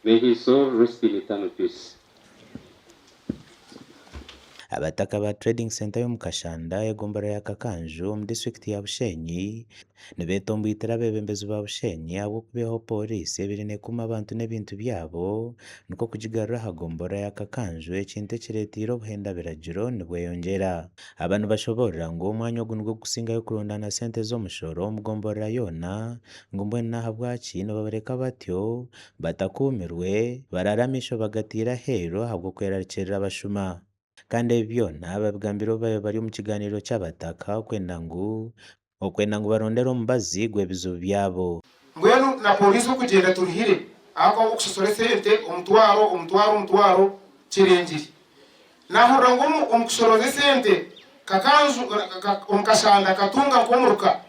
May his soul rest in eternal peace. Abataka ba Trading Centre y'omu Kashanda, Egombolola ya Kakanju, omu District ya Bushenyi, nibetomboitera abebembezi ba Bushenyi ahabw'okubeihaho Pooriisi ebaire nekuuma abantu n'ebintu byabo, nikwo kugigarura aha Gombolola ya Kakanju, ekintu ekireteire obuhenda biragiro nibweyongyera. Aba nibashoboorora ngu omwanya ogu nigwo gukusingayo kurondaana sente z'omushoro omu Gombolola yoona, Ngu mbwenu n'ahabwaki nibabareka batyo, batakuumirwe, baraara amaisho bagataire aheeru ahabw'okwerarikirira abashuma? Kandi ebi byona babigambire obu baabaire bari omu kigaaniiro ky'abataka, okwenda ngu, okwenda ngu barondere omubazi gw'ebizibu byabo. Mbwenu na pooriisi okugyenda eturuhire ahakuba ahabw'okusosoora esente omutwaro, omutwaro, omutwaro kirengire. Naahurira ngu omu omu kushoroza esente Kakanju omu kashanda akatunga nk'omuruka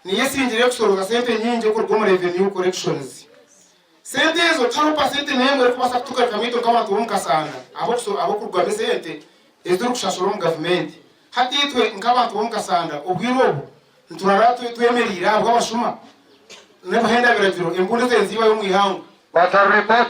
niyo esingire kushoroza sente nyingi okuruga omu Revenue Collections. Sente ezo tihariho pasenti n'emwe erikubaasa kutugarika amaito nk'abantu b'omu kashanda ab'okusho ab'okurugwamu esente ezi turikushashura omu gavumenti. Hati itwe nk'abantu b'omu kashanda obwire obu niturara twe twemereire ahabw'abashuma n'obuhenda biragiro, embundu ezenzibwayo omu ihangwe. Baza Report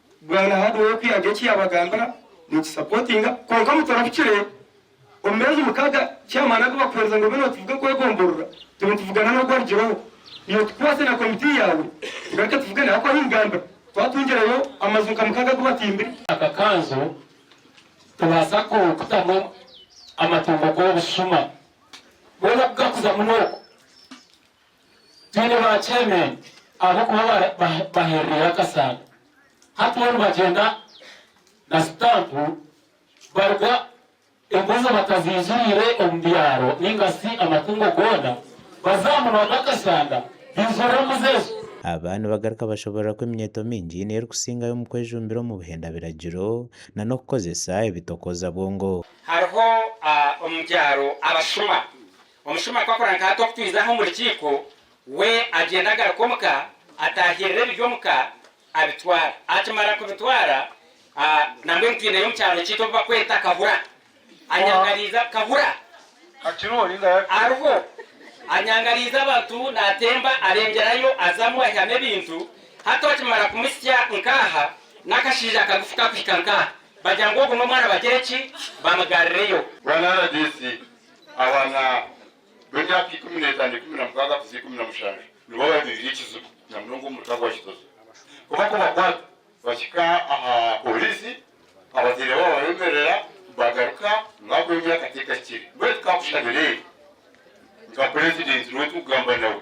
Bwana Hardway okuyaga eki yabagambira nikisapotinga kwonka mutarahukire omu meezi mukaga chairman agu bakuhereza ngu obe notuvuga kwegomborora tube nituvugana nogu arugireho iwe tukwase na committee yawe tugaruke tuvugane ahakuba ahu nigambira twatungireyo amazu nka mukaga agu batimbire aka kanzu tubaasa ku kutamu amatungo g'obushuma mbwenu oku gakuza muno oku Twine ba chairman abarikuba baherereire akasaano. Hati boona bagyenda na stamp baruga embuzi bataziijiriire omu byaro nainga shi amatungo goona baza aha munwa gw'akasanda baijurira embuzi ezo. Aba nibagaruka bashoboorora ku eminyeeto mingi niyo erikusingayo omu kwejumbira omu buhenda biragiro na n'okukozesa ebitokoza bwongo. Hariho omu byaro abashuma Omushuma akakora nka hati okutwiza aha omu rukiiko, we agyenda agaruka omu ka, atahirira ebiri omu ka abitwara. Akimara kubitwara, nambwenu twineyo omu kyaro kyaitu obu bakweta Kahura. Anyangariiza, Kahura? Akiriho ninga yafire? Ariho. Anyangariiza abantu, natemba arengyerayo azamu aihamu ebintu. Hati okimara kumusya nka aha, n'akashaija kagufu kakuhika nka aha. Bagira ngu ogu n'omwana bagira ki? Bamugarrireyo. Bwana rdc, Abaana b'emyaka ikumi n'etaano, ikumi na mukaaga kuza ikumi na mushanju nibo babeire ekizibu namunonga omu muta gwa Kizozo. Ku bakubakwata bahika aha pooriisi, abazaire baabo babemerera bagaruka ngu ahabw'emyaka tekakire. Mbwenu tikakushabira eri nka purezidenti niwe turikugamba nawe.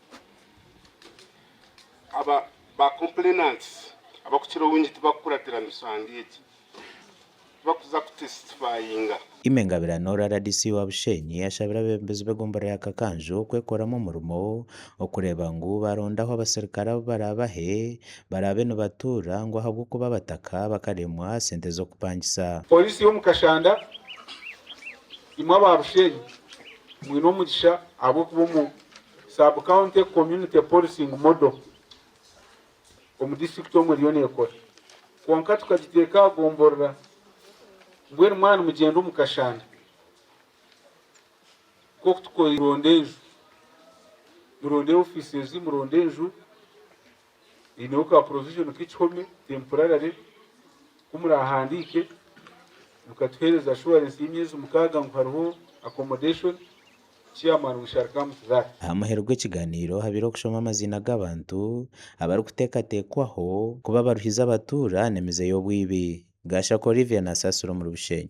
Aba ba complainants abakukira obungi tibakukuratira misango egi. Tibakuza kutestifayinga. Aimée Ngabirano, rdc wa Bushenyi, yashabire abebembezi b'egombora ya Kakanju kwekoramu omurimo okureeba ngu barondaho abaserukare abu barabahe barabe nibatuura ngu ahabw'okuba abataka bakaremwa sente z'okupangisa. Poliisi y'omu Kashanda, Imwe aba Bushenyi mwine omugisha ahabw'okuba omu Sub-County Community Policing Model omu disiturikiti omu eriyo neekora, kwonka tukagiteeka aha gomborora mbwenu mwaba nimugyenda omu kashanda nk'oku tukoire, muronde enju, muronde ofiisi ezi, muronde enju eineho ka provision k'ekihome temporarily ku murahandiike mukatuheereza assurance y'emyezi mukaaga ngu hariho accommodation, chairman we shall come to that. Aha muheru gw'ekigaaniiro habaire okushoma amaziina g'abantu abarikuteekateekwaho kuba abaruhizi abatuura n'emize y'obwibi. Gashaka Olivia nasaasira omuri Bushenyi.